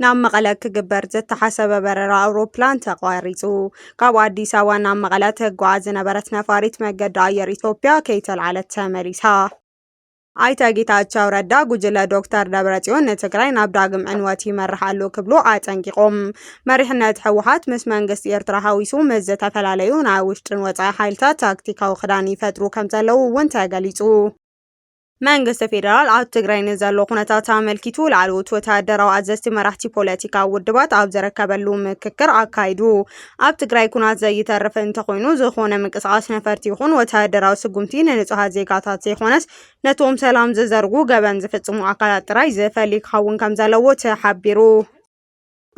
ናብ መቐለ ክግበር ዝተሓሰበ በረራ ኣውሮፕላን ተቋሪፁ። ካብ ኣዲስ ኣበባ ናብ መቐለ ተጓዓዝ ዝነበረት ነፋሪት መገዲ ኣየር ኢትዮጵያ ከይተልዓለት ተመሊሳ። ኣይተ ጌታቸው ረዳ ጉጅለ ዶክተር ደብረጽዮን ንትግራይ ናብ ዳግም ዕንወት ይመርሕ ኣሎ ክብሉ ኣጠንቂቖም። መሪሕነት ህወሓት ምስ መንግስቲ ኤርትራ ሓዊሱ ምስ ዝተፈላለዩ ናይ ውሽጥን ወፃኢ ሓይልታት ታክቲካዊ ክዳን ይፈጥሩ ከም ዘለዉ እውን ተገሊፁ። መንግስቲ ፌደራል ኣብ ትግራይ ንዘሎ ኩነታት ኣመልኪቱ ላዕለዎት ወተሃደራዊ ኣዘዝቲ መራሕቲ ፖለቲካዊ ውድባት ኣብ ዘረከበሉ ምክክር ኣካይዱ። ኣብ ትግራይ ኩናት ዘይተርፍ እንተኾይኑ ዝኾነ ምንቅስቓስ ነፈርቲ ይኹን ወተሃደራዊ ስጉምቲ ንንፁሃት ዜጋታት ዘይኾነስ ነቶም ሰላም ዝዘርጉ ገበን ዝፍፅሙ ኣካላት ጥራይ ዝፈሊ ክኸውን ከም ዘለዎ ተሓቢሩ።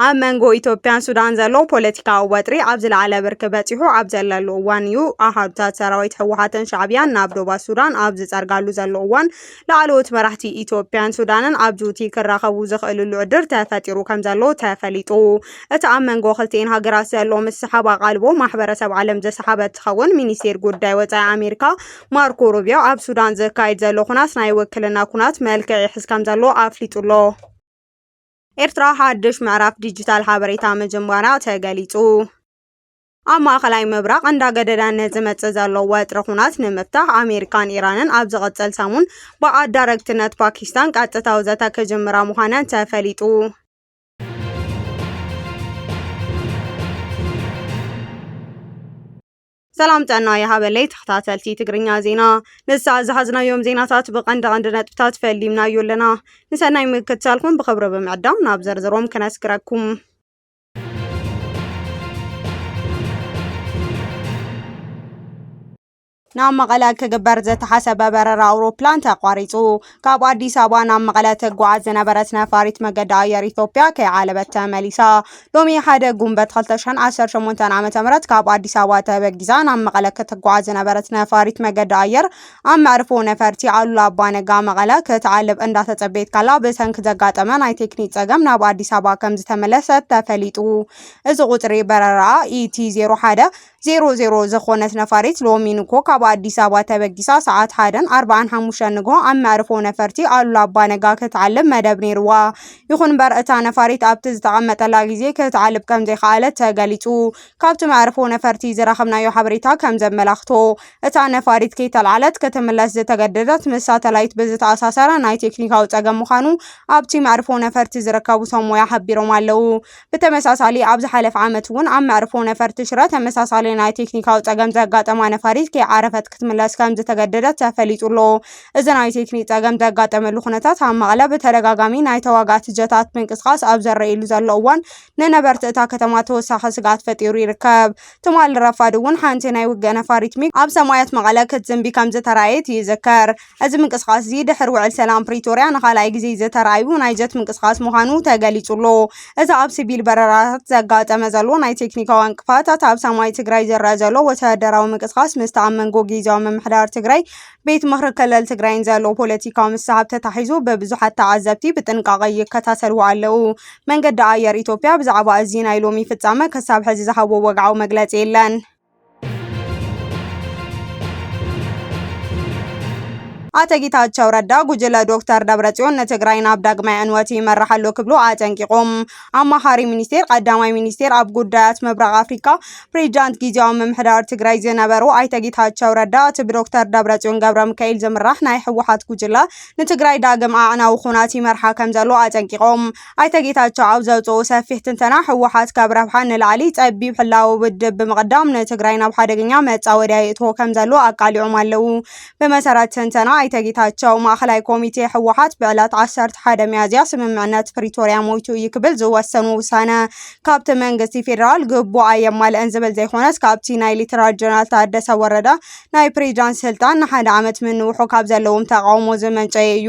ኣብ መንጎ ኢትዮጵያን ሱዳን ዘሎ ፖለቲካዊ ወጥሪ ኣብ ዝለዓለ ብርኪ በፂሑ ኣብ ዘለሉ እዋን እዩ ኣሃዱታት ሰራዊት ህወሓትን ሻዕቢያን ናብ ዶባት ሱዳን ኣብ ዝፀርጋሉ ዘሎ እዋን ላዕለዎት መራሕቲ ኢትዮጵያን ሱዳንን ኣብ ጁቲ ክራኸቡ ዝኽእልሉ ዕድር ተፈጢሩ ከም ዘሎ ተፈሊጡ። እቲ ኣብ መንጎ ክልቲኤን ሃገራት ዘሎ ምስሓብ ኣቓልቦ ማሕበረሰብ ዓለም ዘሰሓበ ትኸውን ሚኒስቴር ጉዳይ ወፃኢ ኣሜሪካ ማርኮ ሩቢዮ ኣብ ሱዳን ዝካየድ ዘሎ ኩናት ናይ ውክልና ኩናት መልክዕ ይሕዝ ከም ዘሎ ኣፍሊጡ ኣሎ። ኤርትራ ሓድሽ ምዕራፍ ዲጂታል ሓበሬታ ምጅማራ ተገሊጹ። ኣብ ማእኸላይ ምብራቕ እንዳገደዳነ ዝመጽእ ዘሎ ወጥሪ ኩናት ንምፍታሕ ኣሜሪካን ኢራንን ኣብ ዝቕጽል ሰሙን ብኣዳረግትነት ፓኪስታን ቀጥታዊ ዘተ ክጅምራ ምዃነን ተፈሊጡ። ሰላም ጥዕና ይሃበለይ ተኸታተልቲ ትግርኛ ዜና ንሳዕ ዝሓዝናዮም ዜናታት ብቐንዲ ቐንዲ ነጥብታት ፈሊምናዮ ኣለና ንሰናይ ምክትታልኩም ብኽብሪ ብምዕዳም ናብ ዘርዝሮም ክነስግረኩም ናብ መቐለ ክግበር ዝተሓሰበ በረራ ኣውሮፕላን ተቋሪፁ ካብ ኣዲስ ኣበባ ናብ መቐለ ትጓዓዝ ዝነበረት ነፋሪት መገዲ ኣየር ኢትዮጵያ ከይዓለበት ተመሊሳ። ሎሚ ሓደ ጉንበት 2018 ዓ.ም ካብ ኣዲስ ኣበባ ተበጊዛ ናብ መቐለ ክትጓዓዝ ዝነበረት ነፋሪት መገዲ ኣየር ኣብ መዕርፎ ነፈርቲ ኣሉላ ኣባነጋ መቐለ ክትዓልብ እንዳተጸበየት ካላ ብሰንኪ ዘጋጠመ ናይ ቴክኒክ ጸገም ናብ ኣዲስ ኣበባ ከም ዝተመለሰት ተፈሊጡ። እዚ ቁጽሪ በረራኣ ኢቲ 01 ዜሮ ዜሮ ዘኾነት ነፋሪት ሎሚ ንግሆ ካብ ኣዲስ ኣበባ ተበጊሳ ሰዓት ሓደን ኣርባዓን ሓሙሽተን ንግሆ ኣብ መዕርፎ ነፈርቲ ኣሉላ ኣባ ነጋ ክትዓልብ መደብ ነይርዋ። ይኹን እምበር እታ ነፋሪት ኣብቲ ዝተቐመጠላ ግዜ ክትዓልብ ከምዘይከኣለት ተገሊፁ። ካብቲ መዕርፎ ነፈርቲ ዝረኸብናዮ ሓበሬታ ከምዘመላኽቶ እታ ነፋሪት ከይተልዓለት ክትምለስ ዝተገደደት ምስ ሳተላይት ብዝተኣሳሰረ ናይ ቴክኒካዊ ፀገም ምዃኑ ኣብቲ መዕርፎ ነፈርቲ ዝርከቡ ሰብ ሞያ ሓቢሮም ኣለው። ብተመሳሳሊ ኣብ ዝሓለፈ ዓመት እውን ኣብ መዕርፎ ነፈርቲ ሽረ ተመሳሳሊ ናይ ቴክኒካዊ ፀገም ዘጋጠማ ነፋሪት ከይዓረፈት ክትምለስ ከምዝተገደደት ተፈሊጡ ኣሎ። እዚ ናይ ቴክኒክ ፀገም ዘጋጠመሉ ኩነታት ኣብ መቐለ ብተደጋጋሚ ናይ ተዋጋእቲ ጀታት ምንቅስቓስ ኣብ ዘረኢሉ ዘሎ እዋን ንነበርቲ እታ ከተማ ተወሳኺ ስግኣት ፈጢሩ ይርከብ። ትማሊ ረፋድ እውን ሓንቲ ናይ ውግእ ነፋሪት ሚግ ኣብ ሰማያት መቐለ ክትዝንቢ ከምዝተራእየት ይዝከር። እዚ ምንቅስቓስ እዚ ድሕሪ ውዕል ሰላም ፕሪቶርያ ንኻልኣይ ግዜ ዝተራእዩ ናይ ጀት ምንቅስቓስ ምዃኑ ተገሊጹ ኣሎ። እዚ ኣብ ሲቪል በረራታት ዘጋጠመ ዘሎ ናይ ቴክኒካዊ ዕንቅፋታት ኣብ ሰማይ ትግራይ ዝረኣ ዘሎ ወተሃደራዊ ምንቅስቓስ ምስቲ ኣብ መንጎ ጊዜያዊ ምምሕዳር ትግራይ ቤት ምኽሪ ክልል ትግራይን ዘሎ ፖለቲካዊ ምስሕብ ተታሒዙ ብብዙሓት ተዓዘብቲ ብጥንቃቐ ይከታተልዎ ኣለዉ። መንገዲ ኣየር ኢትዮጵያ ብዛዕባ እዚ ናይ ሎሚ ፍጻመ ክሳብ ሕዚ ዝሃቦ ወግዓዊ መግለጺ የለን። ኣቶ ጌታቸው ረዳ ጉጅለ ዶክተር ደብረጽዮን ንትግራይ ናብ ዳግማይ ዕንወት ይመራሕ ኣሎ ክብሉ ኣጠንቂቖም። ኣማኻሪ ሚኒስቴር ቀዳማይ ሚኒስቴር ኣብ ጉዳያት ምብራቕ ኣፍሪካ ፕሬዚዳንት ጊዜያዊ ምምሕዳር ትግራይ ዝነበሩ ኣይተ ጌታቸው ረዳ እቲ ብዶክተር ደብረጽዮን ገብረ ሚካኤል ዝምራሕ ናይ ህወሓት ጉጅለ ንትግራይ ዳግም ኣዕናዊ ኩናት ይመርሓ ከምዘሎ ኣጠንቂቖም። ኣይተ ጌታቸው ኣብ ዘውፅኡ ሰፊሕ ትንተና ህወሓት ካብ ረብሓ ንላዕሊ ፀቢብ ሕላዊ ውድብ ብምቕዳም ንትግራይ ናብ ሓደገኛ መፃወድያ የእትዎ ከም ዘሎ ኣቃሊዖም ኣለዉ። ብመሰረት ትንተና ኣይተ ጌታቸው ማእኸላይ ኮሚቴ ህወሓት ብዕለት ዓሰርተ ሓደ ሚያዝያ ስምምዕነት ፕሪቶርያ ሞይቱ እዩ ክብል ዝወሰኑ ውሳነ ካብቲ መንግስቲ ፌዴራል ግቡእ ኣየማልእን ዝብል ዘይኮነስ ካብቲ ናይ ሌተናል ጀነራል ታደሰ ወረደ ናይ ፕሬዚዳንት ስልጣን ንሓደ ዓመት ምንውሑ ካብ ዘለዎም ተቃውሞ ዝመንጨየ እዩ።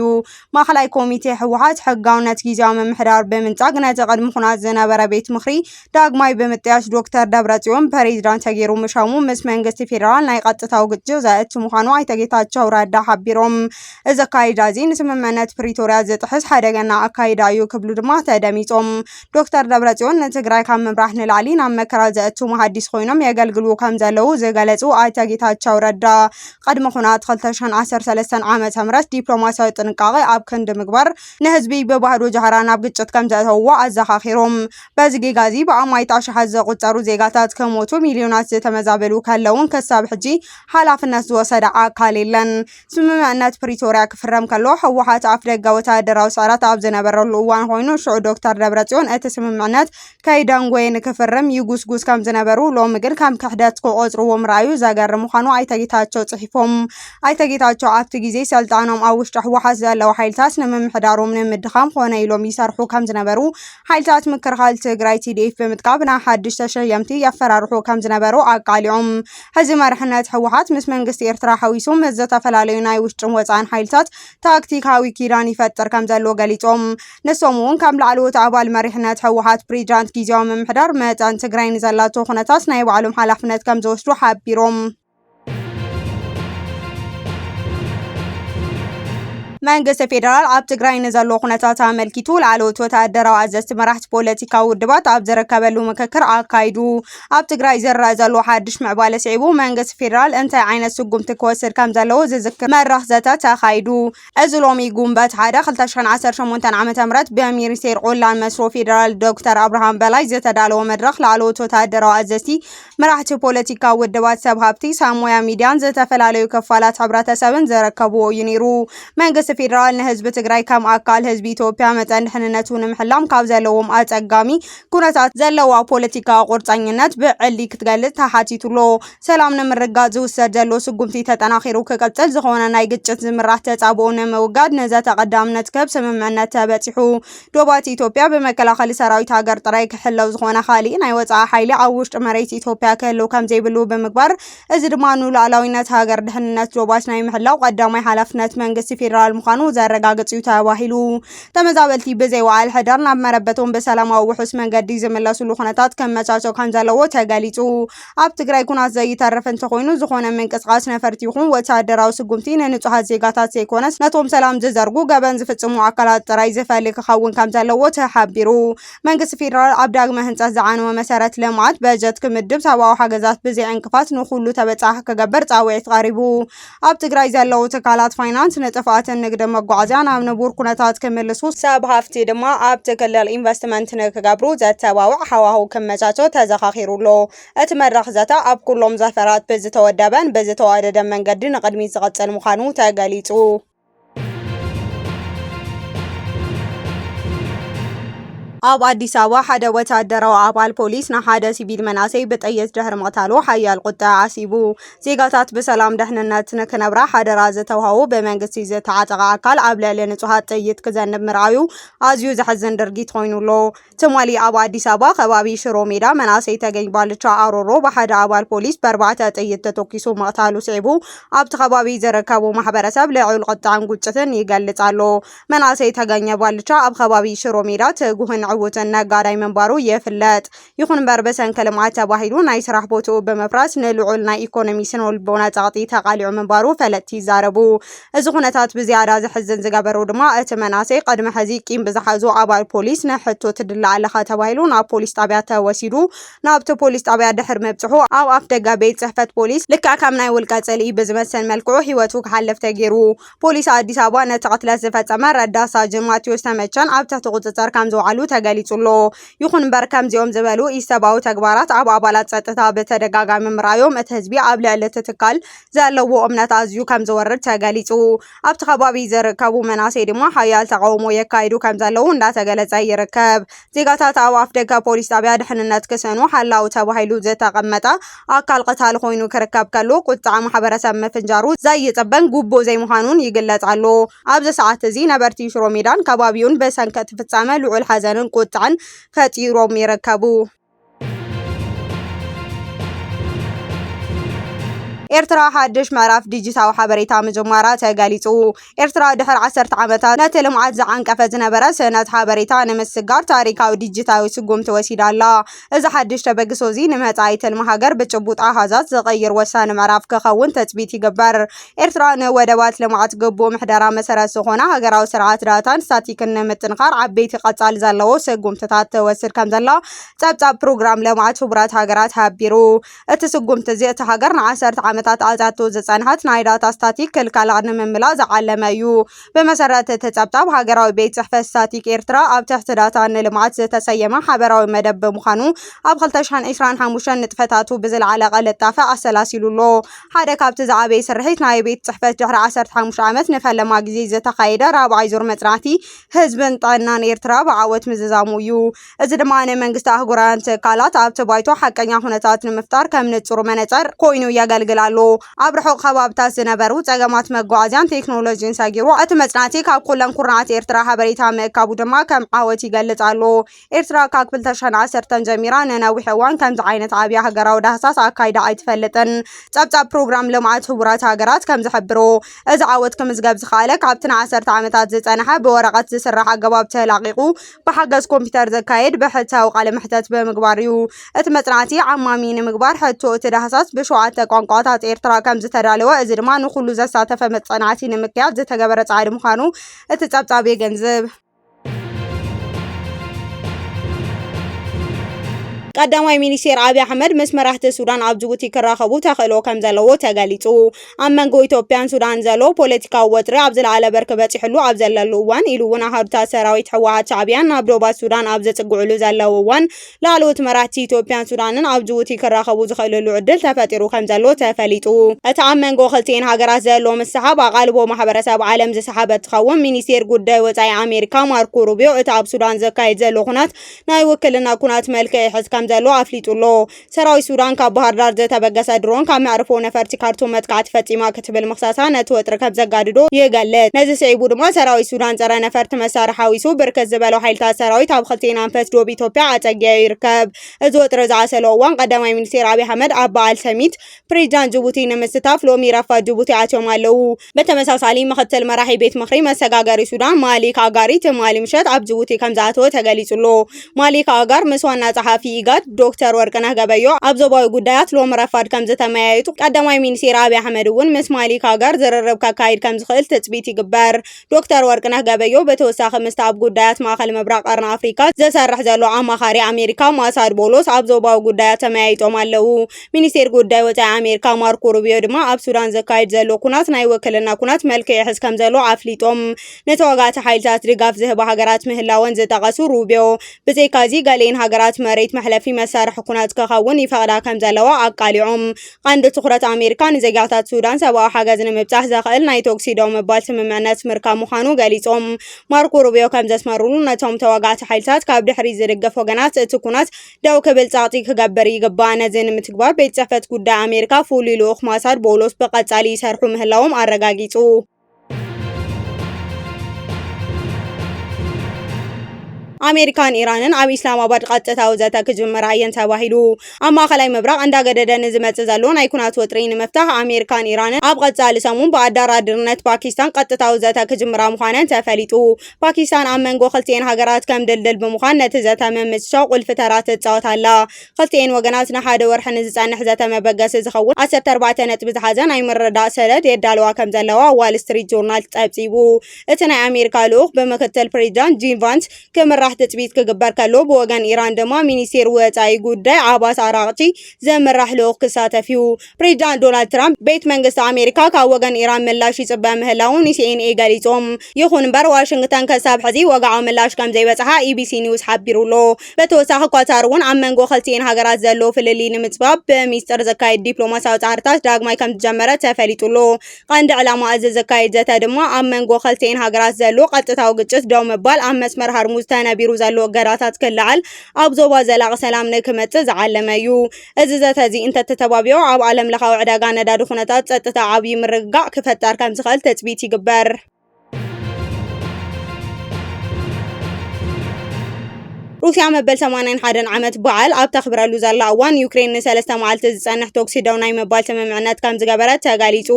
ማእኸላይ ኮሚቴ ህወሓት ሕጋውነት ጊዜያዊ ምምሕዳር ብምንፃግ ነቲ ቅድሚ ኩናት ዝነበረ ቤት ምኽሪ ዳግማይ ብምጥያሽ ዶክተር ደብረፅዮን ፕሬዚዳንት ተገይሩ ምሻሙ ምስ መንግስቲ ፌዴራል ናይ ቀጥታዊ ግጭት ዘእቲ ምዃኑ ኣይተ ጌታቸው ረዳ ሓቢሮም። እዚ ኣካይዳ እዚ ንስምምዕነት ፕሪቶሪያ ዝጥሕስ ሓደገና ኣካይዳ እዩ ክብሉ ድማ ተደሚፆም። ዶክተር ደብረፅዮን ንትግራይ ካብ ምምራሕ ንላዕሊ ናብ መከራ ዘእቱ መሃዲስ ኮይኖም የገልግሉ ከም ዘለዉ ዝገለፁ ኣይተ ጌታቸው ረዳ ቕድሚ ኹናት ክልተ ሽሕን ዓሰርተ ሰለስተን ዓመተ ምህረት ዲፕሎማሲያዊ ጥንቃቐ ኣብ ክንዲ ምግባር ንህዝቢ ብባህዶ ጃህራ ናብ ግጭት ከምዘእተውዎ ኣዘኻኺሮም። በዚ ጌጋ እዚ ብኣማኢት ኣሽሓት ዝቑጸሩ ዜጋታት ክሞቱ ሚልዮናት ዝተመዛበሉ ከለዉን ክሳብ ሕጂ ሓላፍነት ዝወሰደ ኣካል የለን። ስምምዕነት ፕሪቶርያ ክፍረም ከሎ ህወሓት ኣፍደገ ወተሃደራዊ ስዕረት ኣብ ዝነበረሉ እዋን ኾይኑ ሽዑ ዶክተር ደብረፅዮን እቲ ስምምዕነት ከይደንጎየ ንክፍርም ይጉስጉስ ከም ዝነበሩ ሎሚ ግን ከም ክሕደት ክቖፅርዎ ምርኣዩ ዘገርም ምዃኑ ኣይተ ጌታቸው ፅሒፎም። ኣይተ ጌታቸው ኣብቲ ግዜ ሰልጣኖም ኣብ ውሽጢ ህወሓት ዘለዉ ሓይልታት ንምምሕዳሮም ንምድኻም ኾነ ኢሎም ይሰርሑ ከም ዝነበሩ፣ ሓይልታት ምክልኻል ትግራይ፣ TDF፣ ብምጥቃብ ን ሓድሽ ተሸየምቲ የፈራርሑ ከም ዝነበሩ ኣቃሊዖም። ሕዚ መሪሕነት ህወሓት ምስ መንግስቲ ኤርትራ ሓዊሱ ምስ ዝተፈላለዩ ናይ ውሽጥን ወፃእን ሓይልታት ታክቲካዊ ኪዳን ይፈጥር ከምዘሎ ገሊፆም። ንሶም እውን ከም ላዕለዎት ኣባል መሪሕነት ህወሓት ፕሬዚዳንት ጊዜያዊ ምምሕዳር መጠን ትግራይ ንዘላቶ ኩነታት ናይ ባዕሎም ሓላፍነት ከምዝወስዱ ሓቢሮም። መንግስቲ ፌደራል ኣብ ትግራይ ንዘሎ ኩነታት ኣመልኪቱ ላዕለዎት ወተሃደራዊ ኣዘዝቲ መራሕቲ ፖለቲካዊ ውድባት ኣብ ዝርከበሉ ምክክር ኣካይዱ። ኣብ ትግራይ ዝረኣ ዘሎ ሓድሽ ምዕባለ ስዒቡ መንግስቲ ፌደራል እንታይ ዓይነት ስጉምቲ ክወስድ ከም ዘለዎ ዝዝክር መድረኽ ዘተ ተኻይዱ። እዚ ሎሚ ጉንበት ሓደ ክልተ ሽሕን ዓሰርተ ሸሞንተን ዓመተ ምህረት ብሚኒስቴር ቖላን መስኖ ፌደራል ዶክተር ኣብርሃም በላይ ዝተዳለወ መድረኽ ላዕለዎት ወተሃደራዊ ኣዘዝቲ፣ መራሕቲ ፖለቲካዊ ውድባት፣ ሰብ ሃብቲ፣ ሰብ ሞያ ሚድያን ዝተፈላለዩ ክፋላት ሕብረተሰብን ዝርከብዎ እዩ ነይሩ። መንግስቲ ፌደራል ንህዝቢ ትግራይ ከም ኣካል ህዝቢ ኢትዮጵያ መጠን ድሕንነቱ ንምሕላም ካብ ዘለዎም ኣፀጋሚ ኩነታት ዘለዋ ፖለቲካዊ ቁርፀኝነት ብዕሊ ክትገልፅ ተሓቲቱሎ። ሰላም ንምርግጋፅ ዝውሰድ ዘሎ ስጉምቲ ተጠናኺሩ ክቕፅል፣ ዝኾነ ናይ ግጭት ዝምራሕ ተፃብኦ ንምውጋድ ንዘተ ቐዳምነት ክህብ ስምምዕነት ተበፂሑ። ዶባት ኢትዮጵያ ብመከላኸሊ ሰራዊት ሃገር ጥራይ ክሕለው ዝኾነ ካሊእ ናይ ወፃኢ ሓይሊ ኣብ ውሽጢ መሬት ኢትዮጵያ ክህልው ከምዘይብሉ ብምግባር እዚ ድማ ንሉኣላዊነት ሃገር ድሕንነት ዞባች ናይ ምሕላው ቀዳማይ ሓላፍነት መንግስቲ ፌዴራል ምዃኑ ዘረጋግፅ እዩ ተባሂሉ። ተመዛበልቲ ብዘይ ወዓል ሕደር ናብ መረበቶም ብሰላማዊ ውሑስ መንገዲ ዝምለሱሉ ኩነታት ከመቻቸ ከምዘለዎ ተገሊፁ። ኣብ ትግራይ ኩናት ዘይተርፍ እንተኾይኑ ዝኾነ ምንቅስቓስ ነፈርቲ ይኹን ወተሃደራዊ ስጉምቲ ንንፁሃት ዜጋታት ዘይኮነስ ነቶም ሰላም ዝዘርጉ ገበን ዝፍፅሙ ኣካላት ጥራይ ዝፈሊ ክኸውን ከምዘለዎ ተሓቢሩ። መንግስቲ ፌዴራል ኣብ ዳግመ ህንፀት ዝዓነወ መሰረት ልምዓት በጀት ክምድብ ሰብኣዊ ሓገዛት ብዘይ ዕንቅፋት ንኩሉ ተበፃሒ ክገብር ፃውዒት ቀሪቡ። ኣብ ትግራይ ዘለዉ ትካላት ፋይናንስ ንጥፍኣትን ንግድ መጓዓዝያ ናብ ንቡር ኩነታት ክምልሱ፣ ሰብ ሃፍቲ ድማ ኣብቲ ክልል ኢንቨስትመንት ንክገብሩ ዘተባብዕ ሃዋህው ክመቻቸ ተዘኻኺሩ ኣሎ። እቲ መድረኽ ዘተ ኣብ ኩሎም ዘፈራት ብዝተወደበን ብዝተዋደደን መንገዲ ንቕድሚት ዝቕፅል ምዃኑ ተገሊፁ። ኣብ ኣዲስ ኣበባ ሓደ ወተሃደራዊ ኣባል ፖሊስ ንሓደ ሲቪል መናሰይ ብጥይት ድሕሪ ምቕታሉ ሓያል ቁጠ ዓሲቡ። ዜጋታት ብሰላም ደሕንነት ንክነብራ ሓደራ ዝተውሃቡ ብመንግስቲ ዝተዓጠቐ ኣካል ኣብ ልዕሊ ንጹሃት ጥይት ክዘንብ ምርኣዩ ኣዝዩ ዘሕዝን ድርጊት ኮይኑ ኣሎ። ትማሊ ኣብ ኣዲስ ኣበባ ከባቢ ሽሮ ሜዳ መናእሰይ ተገኝ ባልቻ ኣሮሮ ብሓደ ኣባል ፖሊስ በርባዕተ ጥይት ተተኪሱ ምቕታሉ ስዒቡ ኣብቲ ከባቢ ዝርከቡ ማሕበረሰብ ልዑል ቁጥዐን ጉጭትን ይገልጽ ኣሎ። መናእሰይ ተገኘ ባልቻ ኣብ ከባቢ ሽሮ ሜዳ ትጉህን ዕውትን ነጋዳይ ምንባሩ ይፍለጥ። ይኹን እምበር ብሰንኪ ልምዓት ተባሂሉ ናይ ስራሕ ቦትኡ ብምፍራስ ንልዑል ናይ ኢኮኖሚ ስነልቦና ጸቕጢ ተቓሊዑ ምንባሩ ፈለጥቲ ይዛረቡ። እዚ ኩነታት ብዝያዳ ዘሕዝን ዝገበሮ ድማ እቲ መናሰይ ቅድሚ ሕዚ ቂም ብዝሓዙ ኣባል ፖሊስ ንሕቶ ትድለ ኣለኻ ተባሂሉ ናብ ፖሊስ ጣብያ ተወሲዱ ናብቲ ፖሊስ ጣብያ ድሕሪ ምብፅሑ ኣብ ኣፍ ደገ ቤት ፅሕፈት ፖሊስ ልክዕ ከም ናይ ውልቀ ፅልኢ ብዝመስል መልክዑ ህይወቱ ክሓልፍ ተገይሩ። ፖሊስ ኣዲስ ኣበባ ነቲ ቅትለት ዝፈፀመ ረዳት ሳጅን ማቴዎስ ተመቸን ኣብ ትሕቲ ቁፅፅር ከም ዘውዓሉ ተገሊፁ ኣሎ። ይኹን እምበር ከምዚኦም ዝበሉ ኢሰብኣዊ ተግባራት ኣብ ኣባላት ፀጥታ ብተደጋጋሚ ምርኣዮም እቲ ህዝቢ ኣብ ልዕሊ እቲ ትካል ዘለዎ እምነት ኣዝዩ ከም ዝወርድ ተገሊጹ። ኣብቲ ከባቢ ዝርከቡ መናእሰይ ድማ ሓያል ተቓውሞ የካይዱ ከም ዘለዉ እንዳተገለጸ ይርከብ። ዜጋታት ኣብ ኣፍደገ ፖሊስ ጣብያ ድሕንነት ክሰኑ ሓላው ተባሂሉ ዝተቐመጠ ኣካል ቐታሊ ኮይኑ ክርከብ ከሎ ቁጥዐ ማሕበረሰብ ምፍንጃሩ ዘይጽበን ግቡእ ዘይምዃኑን ይግለጽ ኣሎ። ኣብዚ ሰዓት እዚ ነበርቲ ሽሮሜዳን ከባቢኡን ብሰንኪ እቲ ፍጻመ ልዑል ሓዘንን ቁጥዐን ፈጢሮም ይርከቡ። ኤርትራ ሓድሽ ምዕራፍ ዲጂታዊ ሓበሬታ ምጅማራ ተገሊጹ። ኤርትራ ድሕሪ ዓሰርተ ዓመታት ነቲ ልምዓት ዝዓንቀፈ ዝነበረ ስእነት ሓበሬታ ንምስጋር ታሪካዊ ዲጂታዊ ስጉምቲ ወሲዳ ኣላ። እዚ ሓድሽ ተበግሶ እዚ ንመጻኢ ትልሚ ሃገር ብጭቡጥ ኣሃዛት ዝቕይር ወሳኒ ምዕራፍ ክኸውን ትጽቢት ይግበር። ኤርትራ ንወደባት ልምዓት ግቡእ ምሕደራ መሰረት ዝኾና ሃገራዊ ስርዓት ዳታን ስታቲክን ንምጥንኻር ዓበይቲ ቀጻሊ ዘለዎ ስጉምትታት ትወስድ ከም ዘላ ጸብጻብ ፕሮግራም ልምዓት ሕቡራት ሃገራት ሓቢሩ። እቲ ስጉምቲ እዚ እታ ሃገር ንዓሰርተ ዓመታት ኣትያቶ ዝጸንሐት ናይ ዳታ ስታቲክ ክልከላ ንምምላእ ዝዓለመ እዩ። ብመሰረት እቲ ጸብጻብ ሃገራዊ ቤት ጽሕፈት ስታቲክ ኤርትራ ኣብ ትሕቲ ዳታ ንልምዓት ዝተሰየመ ሓበራዊ መደብ ብምዃኑ ኣብ 2025 ንጥፈታቱ ብዝለዓለ ቅልጣፈ ኣሰላሲሉ ኣሎ። ሓደ ካብቲ ዝዓበየ ስርሒት ናይ ቤት ጽሕፈት ድሕሪ ዓሰርተ ሓሙሽተ ዓመት ንፈለማ ግዜ ዝተኻየደ ራብዓይ ዙር መጽናዕቲ ህዝብን ጥዕናን ኤርትራ ብዓወት ምዝዛሙ እዩ። እዚ ድማ ንመንግስቲ ኣህጉራውያን ትካላት ኣብቲ ባይቶ ሓቀኛ ኩነታት ንምፍጣር ከም ንጹር መነጸር ኮይኑ የገልግል ኣሎ። ኣብ ርሑቕ ከባብታት ዝነበሩ ጸገማት መጓዓዝያን ቴክኖሎጂን ሰጊሩ፣ እቲ መጽናዕቲ ካብ ኩለን ኩርናዓት ኤርትራ ሓበሬታ ምእካቡ ድማ ከም ዓወት ይገልጽ ኣሎ። ኤርትራ ካብ ክልተሽሕን ዓሰርተን ጀሚራ ንነዊሕ እዋን ከምዚ ዓይነት ዓብይ ሃገራዊ ዳህሳስ ኣካይዳ ኣይትፈልጥን። ጸብጻብ ፕሮግራም ልምዓት ሕቡራት ሃገራት ከም ዝሕብሮ፣ እዚ ዓወት ክምዝገብ ዝኸኣለ ካብቲ ንዓሰርተ ዓመታት ዝጸንሐ ብወረቐት ዝስራሕ ኣገባብ ተላቒቑ ብሓገዝ ኮምፒተር ዝካየድ ብሕታዊ ቃለ መሕተት ብምግባር እዩ። እቲ መጽናዕቲ ዓማሚ ንምግባር ሕቶ እቲ ዳህሳስ ብሸውዓተ ቋንቋታት ኤርትራ ከም ዝተዳለወ እዚ ድማ ንኹሉ ዘሳተፈ መጽናዕቲ ንምክያድ ዝተገበረ ጻዕሪ ምዃኑ እቲ ጸብጻብ የገንዝብ። ቀዳማይ ሚኒስቴር ኣብይ ኣሕመድ ምስ መራሕቲ ሱዳን ኣብ ጅቡቲ ክራኸቡ ተኽእሎ ከም ዘለዎ ተገሊጹ። ኣብ መንጎ ኢትዮጵያን ሱዳን ዘሎ ፖለቲካዊ ወጥሪ ኣብ ዝለዓለ በርኪ በፂሕሉ ኣብ ዘለሉ እዋን ኢሉ እውን ኣሃዱታት ሰራዊት ህወሓት ሻዕቢያን ናብ ዶባት ሱዳን ኣብ ዘፅግዕሉ ዘለው እዋን ላዕለዎት መራሕቲ ኢትዮጵያን ሱዳንን ኣብ ጅቡቲ ክራኸቡ ዝኽእልሉ ዕድል ተፈጢሩ ከምዘሎ ተፈሊጡ። እቲ ኣብ መንጎ ክልቲኤን ሃገራት ዘሎ ምስሕሓብ ኣቓልቦ ማሕበረሰብ ዓለም ዝሰሓበ እንትኸውን፣ ሚኒስቴር ጉዳይ ወፃኢ ኣሜሪካ ማርኮ ሩቢዮ እቲ ኣብ ሱዳን ዝካየድ ዘሎ ኩናት ናይ ውክልና ኩናት መልክዕ ይሕዝ ከምዘሎ ኣፍሊጡ'ሎ። ሰራዊት ሱዳን ካብ ባህርዳር ዝተበገሰ ድሮን ካብ መዕርፎ ነፈርቲ ካርቱም መጥቃዕቲ ፈፂማ ትብል ምኽሳሳ ነቲ ወጥሪ ከም ዘጋድዶ ይገልጽ። ነዚ ስዒቡ ድማ ሰራዊት ሱዳን ጸረ ነፈርቲ መሳርሒ ሓዊሱ ብርክት ዝበሉ ሓይልታት ሰራዊት ኣብ ክልቲኤን ኣንፈት ዶብ ኢትዮጵያ ኣጸጊዑ ይርከብ። እዚ ወጥሪ ዝዓሰሎ እዋን ቀዳማይ ሚኒስቴር ኣብይ ኣሕመድ ኣብ በዓል ሰሚት ፕሬዚዳንት ጅቡቲ ንምስታፍ ሎሚ ረፋድ ጅቡቲ ኣትዮም ኣለው። ብተመሳሳሊ ምኽትል መራሒ ቤት ምኽሪ መሰጋገሪ ሱዳን ማሊክ ኣጋሪ ትማሊ ምሸት ኣብ ጅቡቲ ከም ዝኣተወ ተገሊጹ'ሎ። ማሊክ ኣጋር ምስ ዋና ጸሓፊ ኢጋድ ዶክተር ወርቅነህ ገበዮ ኣብ ዞባዊ ጉዳያት ሎሚ ረፋድ ከም ዝተመያየጡ፣ ቀዳማይ ሚኒስቴር ኣብይ ኣሕመድ እውን ምስ ማሊክ ኣጋር ዝርርብ ከካይድ ከም ዝኽእል ትጽቢት ይግበር። ዶክተር ወርቅነህ ገበዮ ብተወሳኺ ምስቲ ኣብ ጉዳያት ማእከል ምብራቕ ቀርኒ ኣፍሪካ ዝሰርሕ ዘሎ ኣማኻሪ ኣሜሪካ ማሳድ ቦሎስ ኣብ ዞባዊ ጉዳያት ተመያይጦም ኣለዉ። ሚኒስቴር ጉዳይ ወጻኢ ኣሜሪካ ማርኮ ሩቢዮ ድማ ኣብ ሱዳን ዘካይድ ዘሎ ኩናት ናይ ውክልና ኩናት መልክዕ ይሕዝ ከም ዘሎ ኣፍሊጦም። ንተዋጋእቲ ሓይልታት ድጋፍ ዝህባ ሃገራት ምህላወን ዝጠቐሱ ሩቢዮ፣ ብዘይካ'ዚ ገሊኤን ሃገራት መሬት መሕለፊ መሳርሒ ኩናት ክኸውን ይፈቕዳ ከምዘለዋ ኣቃሊዖም። ቀንዲ ትኹረት ኣሜሪካ ንዜጋታት ሱዳን ሰብኣዊ ሓገዝ ንምብጻሕ ዘኽእል ናይ ተኹሲ ደው ምባል ስምምዕነት ምርካብ ምዃኑ ገሊጾም። ማርኮ ሩቢዮ ከምዘስመሩሉ፣ ነቶም ተዋጋእቲ ሓይልታት ካብ ድሕሪት ዝድግፍ ወገናት እቲ ኩናት ደው ክብል ጸቕጢ ክገብር ይግባእ። ነዚ ንምትግባር ቤት ጽሕፈት ጉዳይ ኣሜሪካ ፍሉይ ልኡኽ ማሳድ ቦውሎስ ብቐጻሊ ይሰርሑ ምህላዎም ኣረጋጊጹ። ኣሜሪካን ኢራንን ኣብ ኢስላማባድ ቐጥታዊ ዘተ ክጅምራ እየን ተባሂሉ። ኣብ ማእኸላይ ምብራቕ እንዳገደደ ንዝመፅእ ዘሎ ናይ ኩናት ወጥሪ ንምፍታሕ ኣሜሪካን ኢራንን ኣብ ቐፃሊ ሰሙን ብኣደራድርነት ፓኪስታን ቐጥታዊ ዘተ ክጅምራ ምዃነን ተፈሊጡ። ፓኪስታን ኣብ መንጎ ክልቲኤን ሃገራት ከም ድልድል ብምዃን ነቲ ዘተ ምምችቻው ቁልፊ ተራ ትፃወት ኣላ። ክልቲኤን ወገናት ንሓደ ወርሒ ንዝፀንሕ ዘተ መበገሲ ዝኸውን ዓሰርተ ኣርባዕተ ነጥቢ ዝሓዘ ናይ ምርድዳእ ሰነድ የዳልዋ ከምዘለዋ ዋል ስትሪት ጆርናል ፀብፂቡ። እቲ ናይ ኣሜሪካ ልኡኽ ብምክትል ፕሬዚዳንት ጂም ቫንስ ክምራሕ ትፅቢት ክግበር ከሎ ብወገን ኢራን ድማ ሚኒስቴር ወፃኢ ጉዳይ ዓባስ ኣራቕቺ ዝምራሕ ልኡኽ ክሳተፍ እዩ። ፕሬዚዳንት ዶናልድ ትራምፕ ቤት መንግስቲ ኣሜሪካ ካብ ወገን ኢራን ምላሽ ይፅበ ምህላዉ ንሲኤንኤ ገሊጹ። ይኹን እምበር ዋሽንግተን ክሳብ ሕዚ ወግዓዊ ምላሽ ከም ዘይበጽሓ ኢቢሲ ኒውስ ሓቢሩ ኣሎ። ብተወሳኺ ኳታር እውን ኣብ መንጎ ክልቲኤን ሃገራት ዘሎ ፍልልይ ንምጽባብ ብሚስጥር ዘካየድ ዲፕሎማስያዊ ጻዕርታት ዳግማይ ከም ዝጀመረ ተፈሊጡ ኣሎ። ቀንዲ ዕላማ እዚ ዝካየድ ዘተ ድማ ኣብ መንጎ ክልቲኤን ሃገራት ዘሎ ቀጥታዊ ግጭት ደው ምባል፣ ኣብ መስመር ሃርሙዝ ተነቢሩ ዘሎ እገዳታት ክለዓል፣ ኣብ ዞባ ዘላቒ ሰላም ንክመጽእ ዝዓለመ እዩ። እዚ ዘተ እዚ እንተተተባቢዑ ኣብ ዓለም ለኻዊ ዕዳጋ ነዳዲ ኩነታት ጸጥታ ዓብዪ ምርግጋዕ ክፈጠር ከምዝኽእል ትጽቢት ይግበር። ሩስያ መበል ሰማንያን ሓደን ዓመት በዓል ኣብ ተኽብረሉ ዘላ እዋን ዩክሬን ንሰለስተ መዓልቲ ዝጸንሕ ተኩሲ ደው ናይ ምባል ስምምዕነት ከም ዝገበረት ተገሊጹ።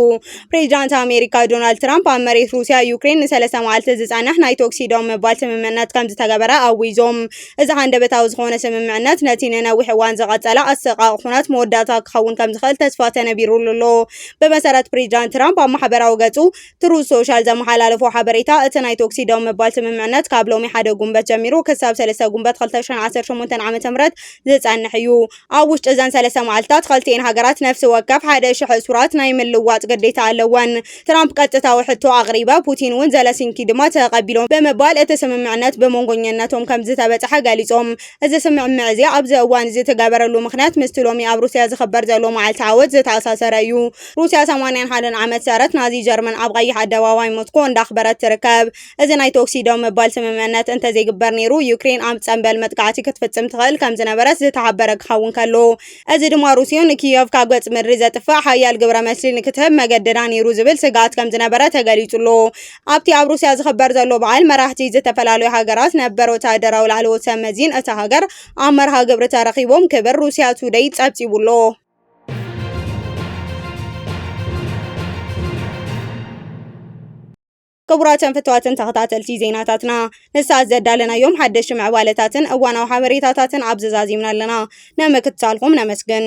ፕሬዚዳንት ኣሜሪካ ዶናልድ ትራምፕ ኣብ መሬት ሩስያ ዩክሬን ንሰለስተ መዓልቲ ዝጸንሕ ናይ ተኩሲ ደው ምባል ስምምዕነት ከም ዝተገበረ ኣዊዞም። እዚ ሃንደበታዊ ዝኾነ ስምምዕነት ነቲ ንነዊሕ እዋን ዝቐጸለ ኣሰቃቒ ኩነት መወዳእታ ክኸውን ከምዝኽእል ተስፋ ተነቢሩሉ ኣሎ። ብመሰረት ፕሬዚዳንት ትራምፕ ኣብ ማሕበራዊ ገጹ ትሩዝ ሶሻል ዘመሓላለፎ ሓበሬታ፣ እቲ ናይ ቶክሲ ደው ምባል ስምምዕነት ካብ ሎሚ ሓደ ጉንበት ጀሚሩ ክሳብ ሰለስተ ጉንበት ክልተ ሽሕን ዓሰርተ ሸሞንተን ዓመተ ምህረት ዝጸንሕ እዩ። ኣብ ውሽጢ እዘን ሰለስተ መዓልታት ኸልቲኤን ሃገራት ነፍሲ ወከፍ ሓደ ሽሕ እሱራት ናይ ምልዋጥ ግዴታ ኣለወን። ትራምፕ ቀጥታዊ ሕቶ ኣቕሪበ፣ ፑቲን እውን ዘለሲንኪ ድማ ተቐቢሎም ብምባል እቲ ስምምዕነት ብሞንጎኝነቶም ከምዝተበጽሐ ገሊጾም። እዚ ስምዕምዕ እዚ ኣብዚ እዋን እዚ እተገበረሉ ምኽንያት ምስቲ ሎሚ ኣብ ሩስያ ዝኽበር ዘሎ መዓልቲ ዓወት ዝተኣሳሰረ እዩ። ሩስያ ሰማንያን ሓደን ዓመት ሰረት ናዚ ጀርመን ኣብ ቐይሕ ኣደባባይ ሞስኮ እንዳኽበረት ትርከብ። እዚ ናይ ተኹሲ ደው ምባል ስምምዕነት እንተዘይግበር ነይሩ፣ ዩክሬን ኣብ ጸምበል መጥቃዕቲ ክትፍጽም ትኽእል ከም ዝነበረት ዝተሓበረ ክኸውን ከሎ፣ እዚ ድማ ሩስዮ ንኪየቭ ካብ ገጽ ምድሪ ዘጥፍእ ሓያል ግብረ መልሲ ንክትህብ መገደዳ ነይሩ ዝብል ስግኣት ከም ዝነበረ ተገሊጹ ኣሎ። ኣብቲ ኣብ ሩስያ ዝኽበር ዘሎ በዓል፣ መራሕቲ ዝተፈላለዩ ሃገራት፣ ነበር ወተሃደራዊ ላዕለዎት ሰብ መዚን እታ ሃገር ኣብ መርሃ ግብሪ ተረኺቦም ክብል ሩስያ ቱደይ ጸብጺቡ ኣሎ። ክቡራትን ፍትዋትን ተኸታተልቲ ዜናታትና ንሰዓት ዘዳለናዮም ሓደሽቲ ምዕባለታትን እዋናዊ ሓበሬታታትን ኣብዚ ዛዚምና ኣለና። ንምክትታልኩም ነመስግን።